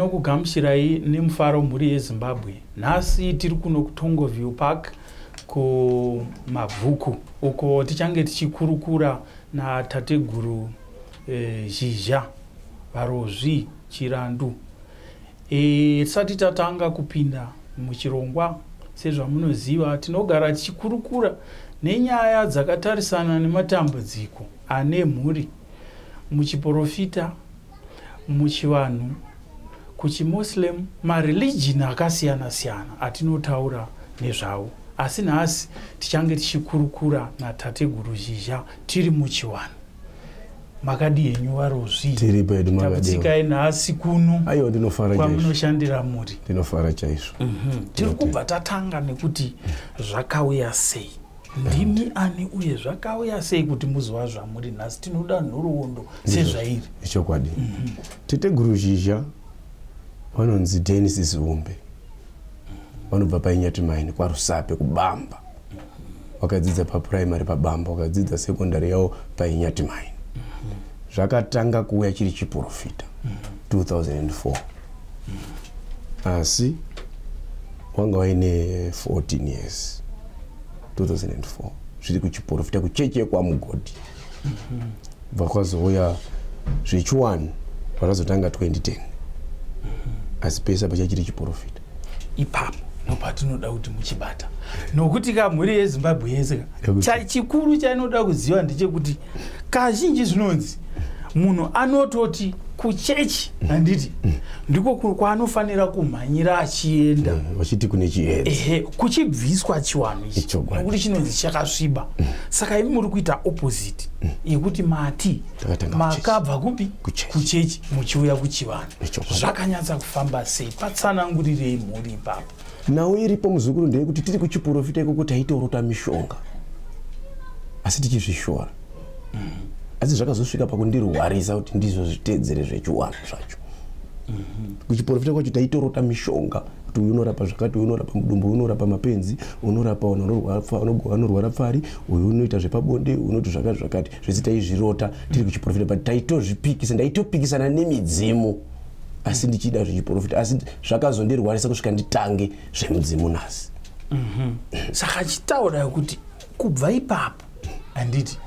Tinokugamuchirai nemufaro mhuri yeZimbabwe. Nhasi tiri kuno kuTongoview Park kumabvuku uko tichange tichikurukura natateguru eh, Zhizha Varozvi Chirandu. Eh, tisati tatanga kupinda muchirongwa sezvamunoziva tinogara tichikurukura nenyaya dzakatarisana nematambudziko ane mhuri muchiporofita muchivanhu kuchimuslim mareligion akasiyana siyana atinotaura nezvawo asi nhasi tichange tichikurukura natateguru zhizha tiri muchiwanhu makadi henyu varozviitsikai nhasi kuno kwamunoshandira muri ndinofara chaizvo mhm. tiri kubva tatanga nekuti zvakauya sei ndimi ani uye zvakauya sei kuti muzova zvamuri nhasi tinoda nhoroondo sezvairi ichokwadi mm -hmm. tete guru zhizha vanonzi denis ziumbe vanobva painyati maini kwarusape kubamba wakadzidza papuraimary pabamba wakadzidza sekondari yavo painyati maini zvakatanga kuuya chiri chiprofita 2004 asi wanga waine 14 years 2004 zviri kuchiporofita kuchechi yekwamugodhi bva kwazouya zvechiwani vakazotanga 2010 asi pese apa chachiri chiporofita ipapo nopatinoda kuti muchibata nokuti ka mhuri yezimbabwe yese chikuru chainoda kuziva ndechekuti kazhinji zvinonzi munhu anototi kuchechi handiti ndiko kwaanofanira kumhanyira achienda mm, vachiti kune chiedza ehe kuchibviswa chiwanhu ichi nekuti chinonzi chakasviba mm. saka imi muri kuita opposite mm. yekuti mati makabva kupi kuchechi muchiuya kuchivanhu zvakanyatsa kufamba sei patsanangurirei mhuri ipapo nhau iripo muzukuru ndeyekuti tiri kuchiporofita ikoko taitorota mishonga asi tichizvishora asi zvakazosvika pakundirwarisa kuti ndizvo zviteedzere zvechiwanhu zvacho kuchiporofita kwacho taitorota mishonga kuti uyu unorapa zvakati uyu unorapa mudumbu unorapa mapenzi unorapa anorwara pfari uyu unoita zvepabonde unoti zvakati zvakati zvese taizvirota tiri kuchiporofita but taitozvipikisa ndaitopikisana nemidzimu asi ndichida zvechiprofita asi zvakazondirwarisa kusvika nditange zvemudzimu nhasi mhm. saka achitaura kuti kubva ipapo handiti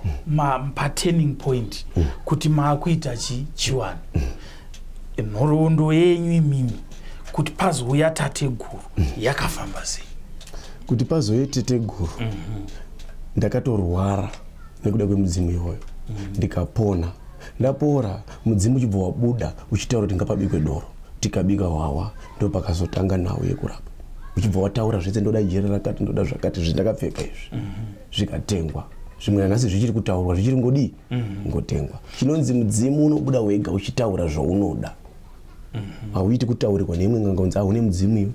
paturning point mm. kuti maakuita chi chiwani mm. nhoroondo yenyu imimi kuti pazouya tateguru mm. yakafamba sei kuti pazouye teteguru mhm. ndakatorwara nekuda kwemudzimu iyoyo ndikapona ndapora mudzimu uchibva wabuda uchitaura kuti ngapabikwe doro tikabika hwahwa ndo pakazotanga nhau yekurapa uchibva wataura zvese ndoda jere rakati ndoda zvakati zvindakapfeka izvi mhm. zvikatengwa zvimwe nanhasi zvichiri kutaurwa zvichiri ngodii mhm. ngotengwa chinonzi mudzimu unobuda wega uchitaura zvaunoda mhm. hauiti kutaurirwa neimwe nganga unzi ahune mudzimu iyo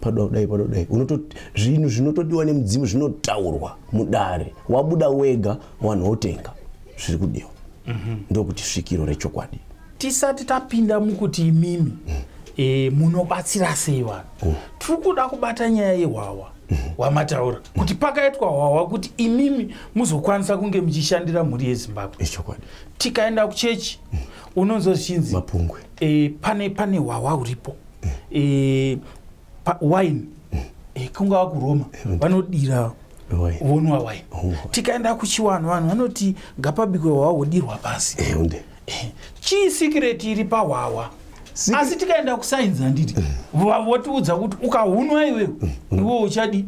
padoda kudai padoda kudai unototi zvinhu zvinotodiwa nemudzimu zvinotaurwa mudare wabuda wega wanhu wotenga zviri kudiwa mm -hmm. ndokuti svikiro rechokwadi tisati tapinda mukuti imimi mm. e, munobatsira sei vanhu mm. tiri kuda kubata nyaya yehwawa mm. wamataura mm. kuti pakaitwa hwawa kuti imimi muzokwanisa kunge muchishandira mhuri yezimbabwe echokwadi tikaenda kuchechi mm. unonzozvichinzi mapungwe e, pane pane hwawa uripo mm. e, wine eh, kungava kuroma vanodira vonwa wine tikaenda kuchiwanhu vanhu vanoti ngapabikwe hwawa wodirwa pasi eh, chii sikireti iri pahwawa asi tikaenda kusainzi handiti votiudza kuti ukahunwa iwewe iwo uchadi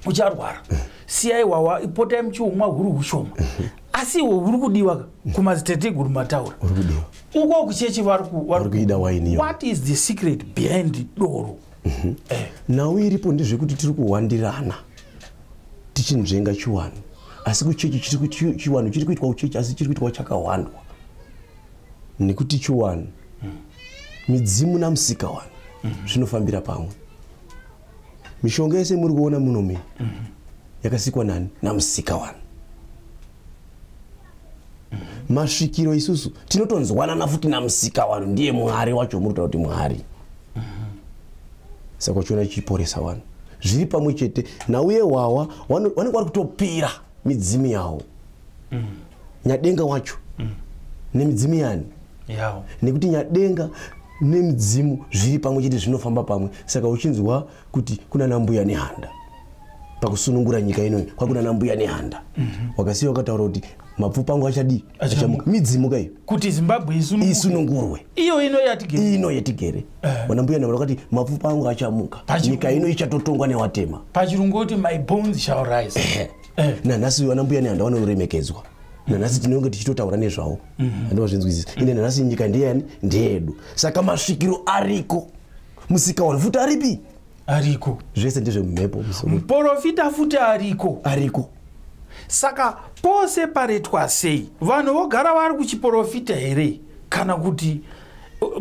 ucharwara siyai wawa ipotai muchiumwa huri ushoma asi iwe uri kudiwa ka kumadziteteguru mataura uri kudiwa uko kuchechi vari kuida waini what is the secret behind doro mhm. eh. nhau iripo ndezvekuti tiri kuwandirana tichinzvenga chiwanu asi kuchechi chiwanu chiri kuitwa uchechi asi chiri kuitwa chakawandwa nekuti chiwanu midzimu namusika wanu zvinofambira pamwe mishonga yese muri kuona muno mi mm -hmm. yakasikwa nani namusika wani mm -hmm. masvikiro isusu tinotonzwanana futi namusika wani ndiye mwari wacho muri kutaura kuti mwari mm -hmm. saka uchiona chichiporesa wani zviri pamwe chete nauye wawa wanenge wari kutopira midzimu yawo mm -hmm. nyadenga wacho mm. nemidzimu yani yeah. nekuti nyadenga nemidzimu zviri pamwe chete zvinofamba pamwe saka uchinzwa kuti kuna nambuya nehanda pakusunungura nyika inoyi kwakuna nambuya nehanda mm -hmm. wakasiya wakataura kuti mapfupa angu achadii achamuka midzimu kaiyo kuti zimbabwe isunungurwe iyo ino yatigere ino yatigere eh. vana mbuya navo vakati mapfupa angu achamuka nyika ino ichatotongwa newatema pachirungu kuti my bones shall rise eh. eh. nanhasi vana mbuya nehanda vanoremekedzwa nanhasi tinenge tichitotaura nezvavo mhm. andovazvinzwisisa ine nanhasi nyika ndeyani ndeyedu saka masvikiro ariko musika wani futi aripi ariko zvese ndezvemumhepo muporofita futi ariko ariko saka pose paretwa sei vanhu vogara vari kuchiporofita here kana kuti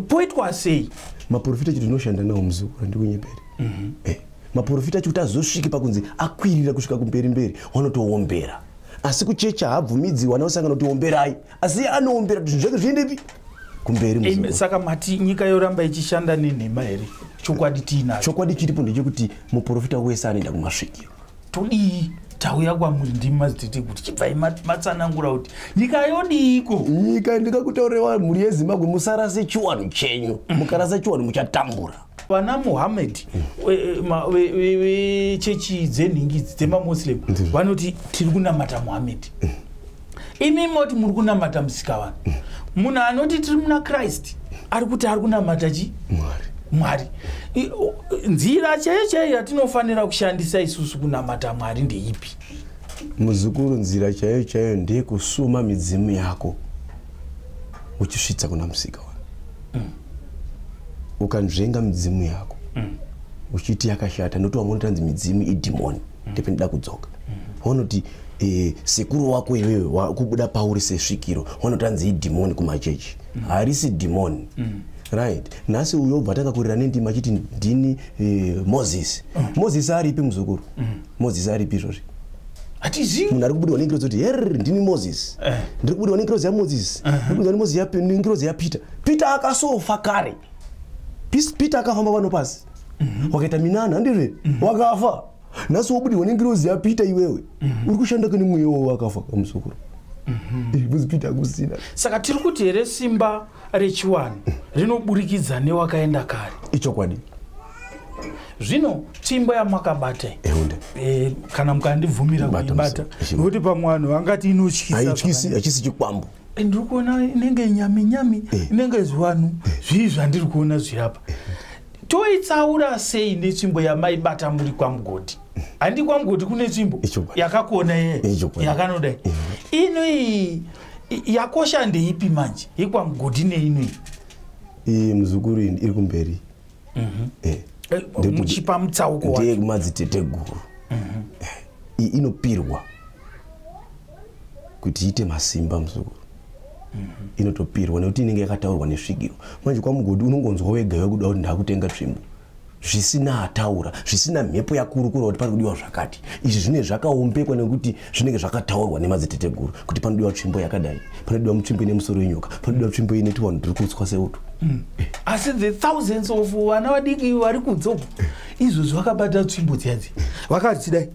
poitwa sei maporofita chito tinoshanda nawo muzukuru ndikunyeperi mm -hmm. eh. maporofita chikuti azosvike pakunzi akwirira kusvika kumberi mberi wanotoombera asi kuchecha haabvumidzi wana usangana kuti omberai asi anoombera kuti zvinhu zvake zviendepi kumberi saka mati nyika yoramba ichishanda nenhema here chokwadi tiinacho chokwadi chiripo ndechekuti muporofita wese anoenda kumasvikiro todii tauya kwamuri ndimi mazitete kuti chibvai matsanangura kuti nyika yodiiko nyika ndikakutaurewa mhuri yezimbabwe musarase chiwanhu chenyu mukarasa chiwanhu muchatambura vana muhammed vechechi mm. dzenhingidzi dzemamuslim vanoti tiri kunamata muhammed mm. imi moti muri kunamata musika vanhu mm. munhu anoti tiri muna christ ari kuti ari kunamata chi mwari nzira chaiyo chaiyo yatinofanira kushandisa isusu kunamata mwari ndeipi muzukuru nzira chaiyo chaiyo ndeyekusuma midzimu yako uchisvitsa kuna musika mm. ukanzvenga midzimu yako mm. uchiti yakashata noti wamwe unotanzi midzimu idhimoni mm. ndependida kudzoka mm. wanoti e, sekuru wako iwewe wakubuda pauri sesvikiro wanotanzi idhimoni kumachechi mm. harisi dhimoni mm right nhasi uyo obva takakurira nendima achiti ndini uh, moses mm. moses aripi muzukuru mm. moses aripi izvozvi hatizivi munhu ari kubudirwa nengirozi kuti her ndini moses eh. ndiri kubudirwa nengirozi yamoses eh. ndiri kubudirwa nengirozi yapeter peter akasofa kare peter akafamba pano pasi mhm. wakaita minana handizve mhm. wakafa nhasi wobudirwa nengirozi yapeter iwewe mhm. uri kushanda kani mweya wavo akafa kamusokoro buzipita akusina saka tiri kuti here simba rechiwanhu rinoburikidza newakaenda kare ichokwadi zvino tsvimbo yamakabata e, kana mukandibvumira kuibata nokuti pamwe vanhu vangati inotyisaachisi chikwambo eh, ndiri kuona inenge nyami nyami eh. inenge zvivanhu zvii zvandiri kuona zvirapa toitsaura sei netsvimbo yamaibata muri kwamugodhi handi kwamugodhi kune tsvimbo yakakuona yeye yakanodai inoii yakosha ndeipi manje hikwa mugodi neinoi iyi muzukuru ini iri kumberi mhm. eh, eh, muchipa mutsauko ndiye kumadziteteguru mhm. eh, iyi inopirwa kuti iite masimba muzukuru mhm. inotopirwa nekuti inenge yakataurwa nesvigiro manje kwamugodi unongonzwa wega wekuda kuti ndakutenga tsvimbo zvisina ataura zvisina mhepo yakurukura kuti pari kudiwa zvakati izvi zvinenge zvakaombekwa nekuti zvinenge zvakataurwa nemadziteteguru kuti panodiwa tsvimbo yakadai panodiwa mutsvimbo ine musoro yenyoka panodiwa tsvimbo ine tivanhu tiri kutswa seuto hmm. asi the thousands of vana vadiki vari kudzoka izvozvi vakabata tsvimbo dziadzi vakadzidai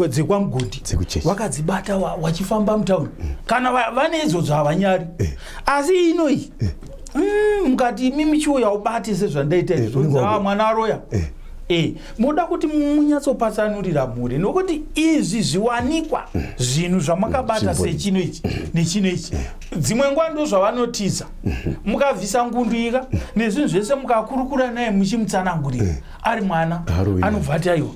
dzekwamugondi vakadzibata wachifamba mutauni kana vane izvozvo havanyari eh. asi inoyi eh. mm, mukati imi michiuya ubati sezvandaita eh, ah, mwana aroya eh. eh, moda kuti munyatsopatsanurira mhuri nokuti izvi zviwanikwa mm. zvinhu zvamakabata mm, sechino ichi mm. nechino ichi dzimwe nguva ndo zvavanotiza mm-hmm. mukabvisa ngundu ika nezvinhu zvese mukakurukura naye muchimutsanangurira ari mwana anobva ati aiwa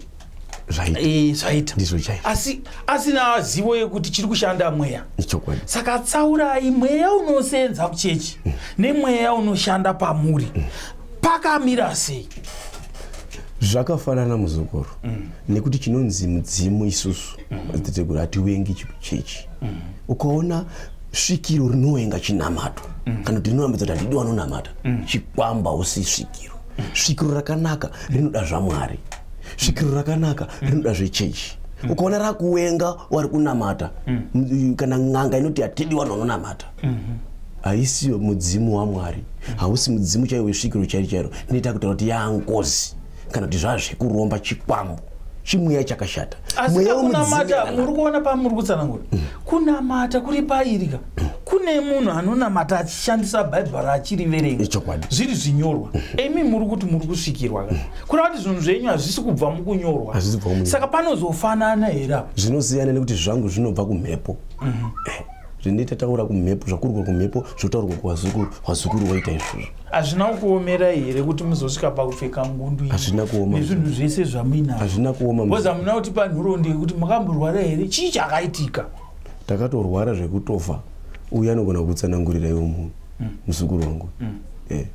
zvaita eh, zvaita ndizvo chaizvo asi asina zivo yekuti chiri kushanda mweya ichokwadi saka tsaurai mweya unoseenza kuchechi mm. nemweya unoshanda pamuri mm. pakamira sei zvakafanana muzukuru mm. nekuti chinonzi mudzimu isusu madziteteguru mm. hatiwengi chechi mm. ukaona svikiro rinowenga chinamato mm. kana kuti rinonamata kuti handidi wanonamata mm. chikwamba usi svikiro mm. svikiro rakanaka rinoda zvamwari svikiro rakanaka rinoda zvechechi mm. ukaona rakuwenga wari kunamata mm. kana n'anga inoti hatidi vanhu vanonamata mm-hmm. haisi mudzimu wamwari mm. hausi mudzimu chaiwo wesvikiro chairo chairo inoita kutaura kuti yaangozi kana kuti zvazvekuromba chikwambo chimweya chakashata asi kunamata muri kuona pamuri kutsanangura mm. kunamata kuri pairika kune munhu anonamata achishandisa bhaibheri achiriverenga zviri zvinyorwa mhm. imi muri kuti muri kusvikirwa ka mhm. kureva kuti zvinhu zvenyu hazvisi kubva mukunyorwa saka panozofanana here apa zvinosiyana nekuti zvangu zvinobva kumhepo mhm. eh, zvinoita taura kumhepo zvakurwa kumhepo zvotaurwa kuvazukuru vazukuru vaita izvozvo hazvina kuomera here kuti muzosvika pakupfeka ngundu hazvina kuoma nezvinhu zvese zvamuinazvo hazvina kuoma bcause hamuna kuti panhurondi yekuti makamborwara here chii chakaitika takatorwara zvekutofa uye anogona kutsanangurira iwo munhu mm. muzukuru wangu mm. eh.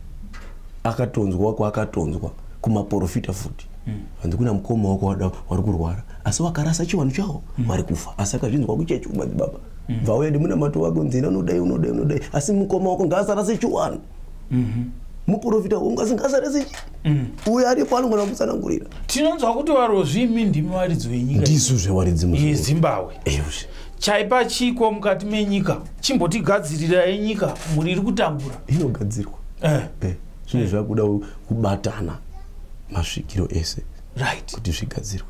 akatonzwa kwaakatonzwa kumaporofita futi mm. hanzi kuna mukoma wako wada wari kurwara asi wakarasa chivanhu chawo wari kufa asi akazvinzwa kuchechi kumadzibaba bvauya ndimunamato wako nzina unodai unodai unodai asi mukoma wako ngaasarase chiwanhu mm-hmm. muporofita wangu asi ngaasarase chi uyo aripo anogona kutsanangurira tinonzwa kuti varozvimi ndimi varidzi wenyika ndisu zvewaridzi muzimbabwe Eushe. chaipa chiko mukati menyika chimbotigadzirirai nyika mhuri iri kutambura inogadzirwa eh. eh. zvine eh. zvakuda kubatana masvikiro ese right. kuti zvigadzirwe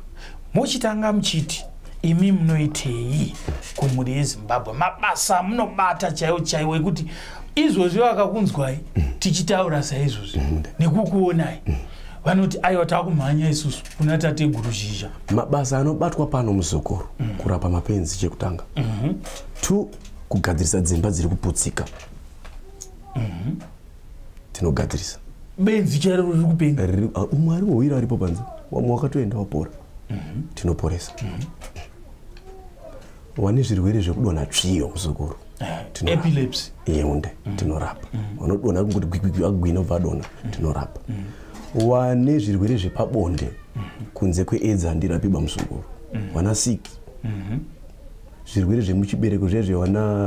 mochitanga muchiti imi munoitei kumhuri yezimbabwe mabasa munobata chaiwo chaiwo ekuti izvozvi vakakunzwai mm. tichitaura saizvozvi mm. nekukuonai mm. vanoti aiwa takumhanya isusu kuna tateguru zhizha mabasa anobatwa pano muzukuru mm. kurapa mapenzi chekutanga mm -hmm. two kugadzirisa dzimba dziri kuputsika mm -hmm. tinogadzirisa benzi chairo riri kupenga ah, umwe ari wowira aripo panze wamwe wakatoenda wapora mm -hmm. tinoporesa mm -hmm. wane zvirwere zvekudonha tsviyo muzukuru eh, epilepsy yeunde mm. tinorapa mm. vanodonha mm. kungoti gwigwigwi agwina obva adonha mm. tinorapa mm. wane zvirwere zvepabonde mm. kunze kweedzi handirapibwa muzukuru mm. wana siki mm -hmm. zvirwere zvemuchibereko zviya zvewana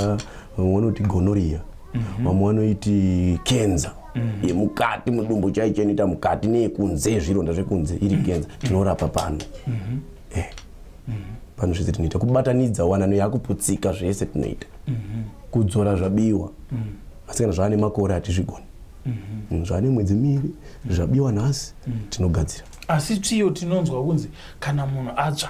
vamwe vanoti gonoria mm -hmm. vamwe vanoiti kenza mm -hmm. yemukati mudumbu chaicho inoita mukati neyekunze zvironda zvekunze iri kenza mm -hmm. tinorapa pano mm -hmm. eh. pano zvese tinoita kubatanidza wanano yakuputsika zvese tinoita kudzora zvabiwa asikana zvaane makore hatizvigoni mm, zvaane mwedzi miri zvabiwa nhasi tinogadzira asi tsviyo tinonzwa kunzi kana munhu atsva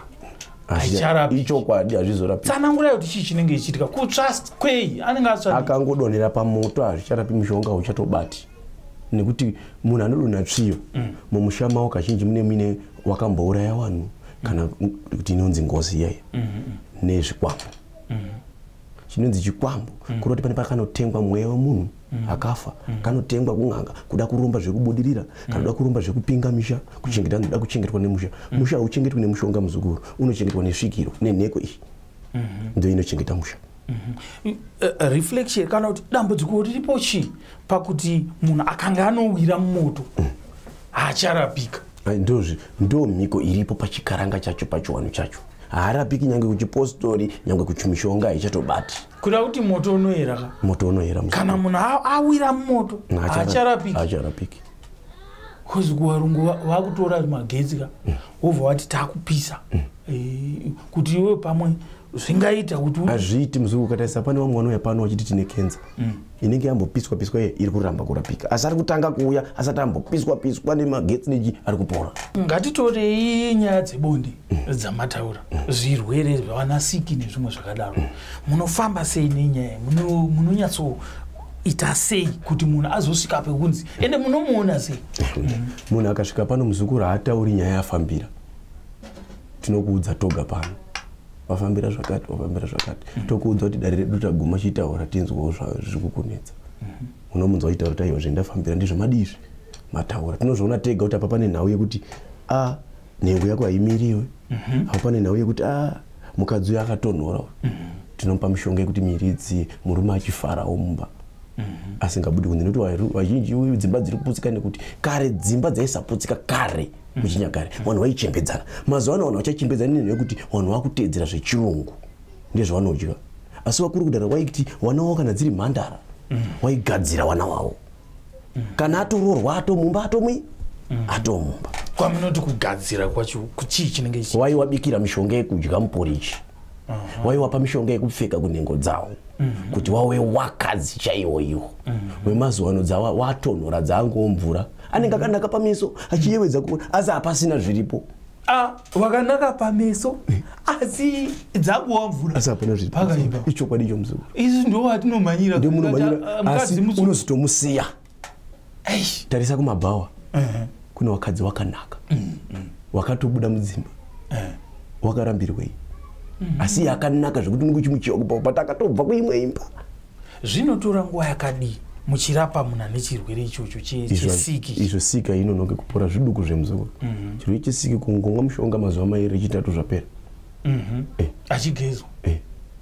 ichokwadi hazvizorapitsanangura kuti chii chinenge chichiitika kutsva kwei anenge atsva akangodonhera pamoto hazvicharapi mushonga uchatobati nekuti munhu anodonha tsviyo mm. mumusha mavo kazhinji mune muine wakambouraya vanhu kana kuti inonzi ngozi iyayo mm-hmm. nezvikwambo mm-hmm. chinonzi chikwambo mm. kuda kuti pane pakanotengwa mweya wemunhu mm. akafa mm. kanotengwa kun'anga kuda kuromba zvekubudirira kana kuda kuromba zvekupinga misha kuchengeta anoda kuchengetwa nemusha musha hauchengetwi nemushonga muzukuru unochengetwa nesvikiro nenheko iyi mm-hmm. ndo inochengeta musha Mhm. Eh, eh, reflection kana kuti dambudziko riripo chii pakuti munhu akanga anowira mumoto haacharapika ndozvi ndo mhiko iripo pachikaranga chacho pachiwano chacho haarapiki nyange kuchipostori nyange kuchimishonga haichatobati kuda kuti moto unoyera ka moto unoyera kana munhu awira mumoto haacharapiki bcause kuvarungu vakutora magetsi ka mm. wobva wati takupisa mm. Eh, kuti iwe pamwe zvingaita kuti hazviiti muzungu ukatarisa pane vamwe vanouya pano vachiti tine kenza mm. inenge yambopiswa piswa iye iri kuramba kurapika asi ari kutanga kuuya asati ambopiswa piswa nemagetsi neji ari kupora ngatitorei nyaya dzebonde mm. dzamataura mm. zvirwere zvavanasiki nezvimwe zvakadaro mm. munofamba sei nenyaya munonyatso ita sei kuti munhu azosvika pekunzi ende munomuona sei munhu akasvika pano muzukuru haatauri nyaya yafambira tinokuudza toga pano wafambira zvakati wafambira zvakati mm -hmm. tokuudza kuti dare redu taguma chitaura tinzwawo zviri kukunetsa mm -hmm. unomunzwa chitaura taiwa zvendafambira ndizvo madizvi mataura tinozviona tega kuti apa pane nhau yekuti a ah, nhengo yako haimiriwe mm -hmm. apa pane nhau yekuti a ah, mukadzi uyo akatonhora mm -hmm. tinomupa mishonga yekuti miridzi murume achifarawo mumba Mhm. asingabudi kunze nekuti vazhinji dzimba dziri kuputsika nekuti kare dzimba dzaisaputsika kare muchinyakare vanhu vaichembedzana mazuva ano vanhu vachachembedzana nenhu yekuti vanhu vakuteedzera zvechirungu ndezvavanodya asi vakuru kudara waiti vana wavo kana dziri mhandara waigadzira vana wavo kana atoroorwa atomumba atomwi atomumba kwamunoti kugadzira kwacho kuchii chinenge ichi waiwabikira mishonga yekudya muporichi waiwapa mishonga yekupfeka kunhengo dzavo mhm. kuti wawe wakadzi chaiwo iwo wemazuva ano dzawa watonhora dzaangoo mvura anenge akanaka pameso achiyevedza kuona asi hapasina zviripo ah, wakanaka pameso eh. asi dzakuwa mvura asi hapana zviripoakaipa ichokwadi icho muzukuru isu ndo watinomhanyira ndio munomhanyira ah, asi unozotomusiya tarisa kumabhawa kune wakadzi wakanaka mm, mm. wakatobuda mudzimba eh. wakarambirwei mm-hmm. asi yakanaka zvekuti unenge uchimuchiwa kubva kupata akatobva kuimwe imba zvinotora nguva yakadii muchirapa munhu ane chirwere ichocho chesiki izvo sika inonoke kupora zviduku zvemuzukuru mhm. chirwere chesiki kungomwa mushonga mazuva mairi echitatu zvapera mhm. eh. achigezwa eh.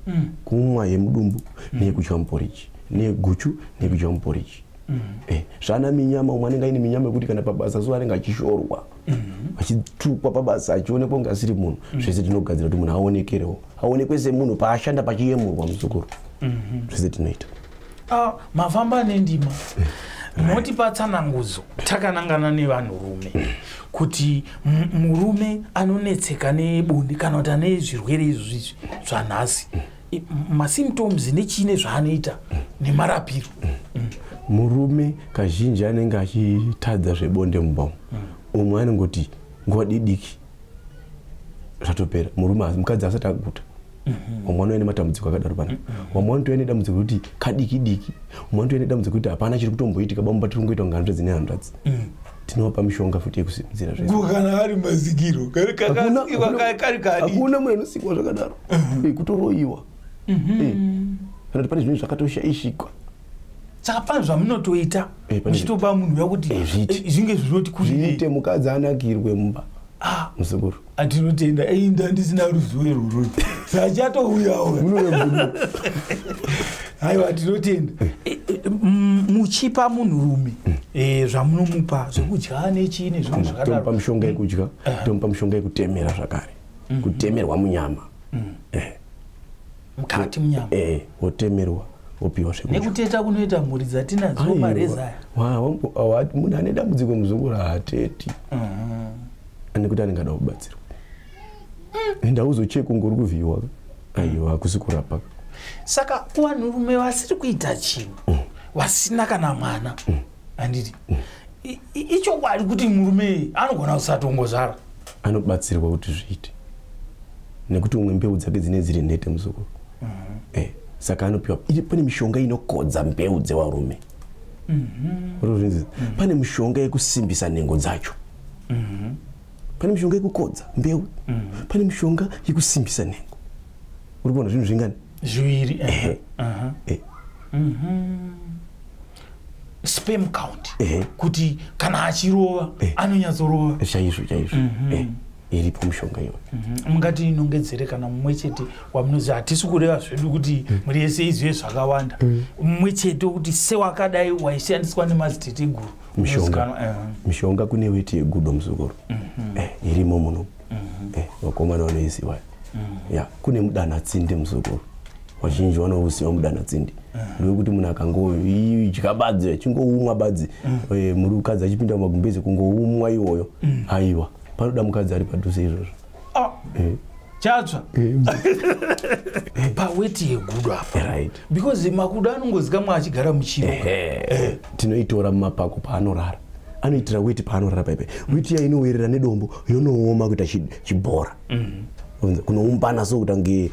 mm. kumwa yemudumbu mm. neyekudya muporiji neyeguchu neyekudya muporiji mm. eh. zvaana minyama umwe anenge aine minyama yekuti kana pabasa zuva anenge achishorwa mhm. vachitukwa pabasa achionekwa kunge asiri munhu mhm. zvese tinogadzira kuti munhu aonekerewo aonekwe semunhu paashanda pachiyemurwa muzukuru mhm. zvese tinoita ah, mafamba nendima moti patsanangudzo takanangana nevanhurume kuti murume anonetseka nebonde kana kuti ane zvirwere izvi zvanhasi masymptoms nechine zvaanoita nemarapiro murume kazhinji anenge achitadza zvebonde mumba umwe anongoti nguva didiki zvatopera murume mukadzi asati akuta mhm. umwe anove nematambudziko akadaro pana vamwe mhm. vanotove nedambudziko rekuti kadiki diki umwe anotove nedambudziko rekuti hapana chiri kutomboitika bamumba tiri kungoita kunga hanzvadzi nehanzvadzi mhm. tinopa mishonga futi yekusimudzira zvekana ari mazigiro kari kakasikwa kari kari hakuna munhu anosikwa zvakadaro mhm. eh, kutoroiwa mhm. eh, kana kuti pane zvinhu zvakatoshaishikwa saka pane zvamunotoita eh, muchitopa munhu uya kuti zvinge zvinoti kuiite mukadzi anakirwe mumba ah. muzukuru atinotenda ei ndandisina ruzivo irworoi zvachatouyawo aiwa tinotenda muchipa munhu rume mm. eh, zvamunomupa zvekudya nechii nezvinhu zvakadaro tomupa mushonga yekudya tomupa mushonga yekutemera zvakare mm. kutemerwa munyama mm. eh. mukati munyama eh, wotemerwa wopiwa zvekudya nekuteta kunoita mhuri dzatinadzo mareza aya munhu ane dambudziko muzungu raateti mm -hmm. ane kuti anenge ada kubatsirwa mm. enda uzocheka ungori kuvhiyiwa aiwa hakusi kurapa saka kuvanhurume vasiri kuita chinhu mm. vasina kana mwana mm. handiti ichokwadi kuti murume anogona kusatongozvara anobatsirwa kuti zviite nekuti umwe mbeu dzake dzine dziri nhete muzukuru mhm. eh, saka anopiwa iri pane mishonga inokodza mbeu dzevarume mhm. mhm. pane mishonga yekusimbisa nhengo dzacho pane mishonga yekukodza mbeu pane mishonga yekusimbisa nhengo uri kuona zvinhu zvingani zviviri eh. eh. sperm count eh. kuti kana achirova eh. anonyatsorova eh, chaizvo chaizvo mm -hmm. eh iripo mushonga iyoyo mhm. mungati mm -hmm. inongedzere kana mumwe chete wamunozi hatisi kureva zvedu kuti mm. muri yese izive zvakawanda mm. mumwe mm. chete wekuti sewakadai waishandiswa nemaziteteguru mishonga, uh -huh. mishonga kune weti yegudo muzukuru mm -hmm. eh, irimo muno mm-hmm. eh, vakomana vanoiziva mm. ya kune mudanatsindi muzukuru vazhinji vanouziva mudanatsindi mm. ndowekuti munhu akangoidya badzi achingoumwa badzi mm. eh, mukadzi achipinda mumagumbezi kungoumwa iwoyo aiwa panoda mukadzi ari padhuze izvozvo ah. eh. chatsva paweti yegudo apa because makuda anongozikamwa achigara muchivo eh. tinoitora mumapako paanorara anoitira weti paanorara paipai weti iya inowerera nedombo yonooma kuita chibhora mm. kunoumbana so kuta kunge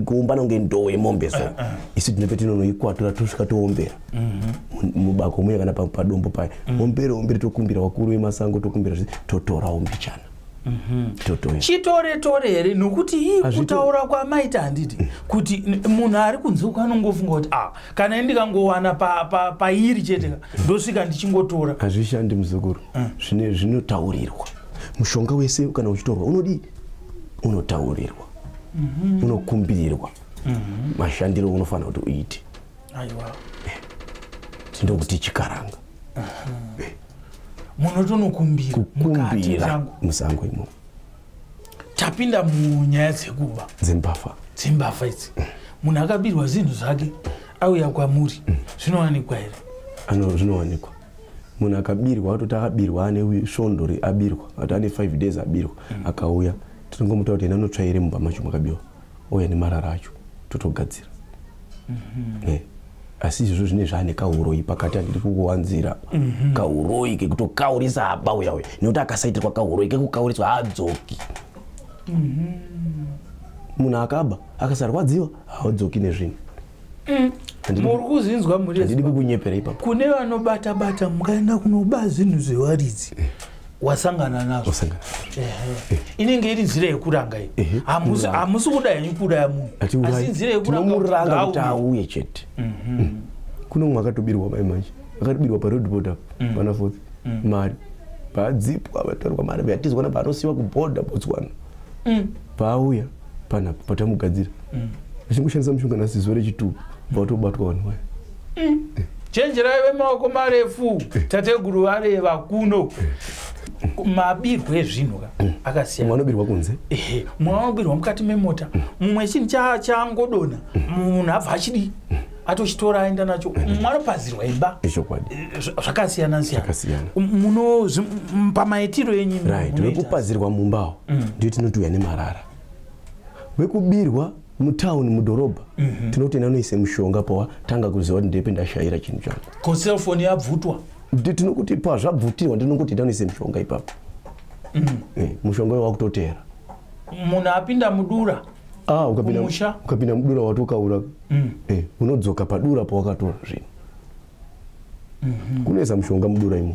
kuumbana kunge ndoo yemombe so eh, eh. isu tinope tinonoikwatura tosvika toombera mm-hmm. mubako muye kana padombo paya mm. ombere ombere tokumbira vakuru vemasango tokumbira totorawo mbichana Mhm. chitore tore here nokuti ii kutaura kwamaita handiti mm. kuti munhu ari kunzuka anongofunga kuti a ah, kana i ndikangowana pairi chete ndosvika ndichingotora hazvishandi muzukuru mm. zvine zvinotaurirwa mushonga wese kana uchitorwa unodii unotaurirwa mhm. unokumbirirwa mhm. mashandiro unofanira kuti uite aiwa eh. ndokuti chikaranga eh. munotonokumbira kukumbira musango imo tapinda munyaya dzekuba dzimbafa dzimbafa idzi munhu akabirwa zinhu zvake auya kwamuri mm. zvinowanikwa here ano zvinowanikwa munhu akabirwa atoti akabirwa ane svondo abirwa ati ane five days abirwa mm. akauya tinongomuta kuti ena anotsvaire mumba macho makabirwa ouya nemarara acho totogadzira mm -hmm. yeah asi izvozvo zvine zvaane kauroi pakati handidi kukuwanzira mhm. kauroi kekutokaurisa haba uya uya nekuti akasaitirwa kauroi kekukauriswa haadzoki mhm. munhu akaba akasarwadziwa haadzoki nezvinhu mm. muri kuzinzwa murihandidi kukunyepera ipapo kune vanobata bata mukaenda kunoba zvinhu zvewaridzi wasangana nazvo wasangana eh. inenge iri nzira yekuranga iyi eh, hamusi kuda henyu kuuraya munhu asi nzira yekurangaomuranga kuti auye chete mhm. mm. kune umwe akatobirwa mai manje akatobirwa paroad board apo mm. pana foth mm. mari paadzipwa vatorwa mari vyatizwa na paanosiwa kuboda botswana paauya panapo patamugadzira vachingoshandisa mushonga nasizuva rechituku vatobatwa vanhu vaya chenjerai vemaoko marefu tateguru vareva kuno mabirwo ezvinhu ka akasiyana anobirwa kunze mumwe anobirwa mukati memota mumwe chinhu changodona munhu abva achidii atochitora aenda nacho mwanopazirwa imba eh, zvakasiyana siyana muno pamaitiro enyu right wekupazirwa mumbawo mm. ndio tinoti uya nemarara wekubirwa mutown mudhorobha mm -hmm. tinoti nanoise mushonga pawa tanga kuziva kuti ndepe ndashaira chinhu changu ko cellphone yabvutwa tinokuti pazvabvutirwa ndinongoti ndanoise mushonga ipapo mm -hmm. eh, mushonga uyo wakutoteera munhu apinda mudura ah, ukapinda, ukapinda mudura wati ukaura mm. eh, unodzoka padura pawakatora zvinhu mm -hmm. kunoisa mushonga mudura imo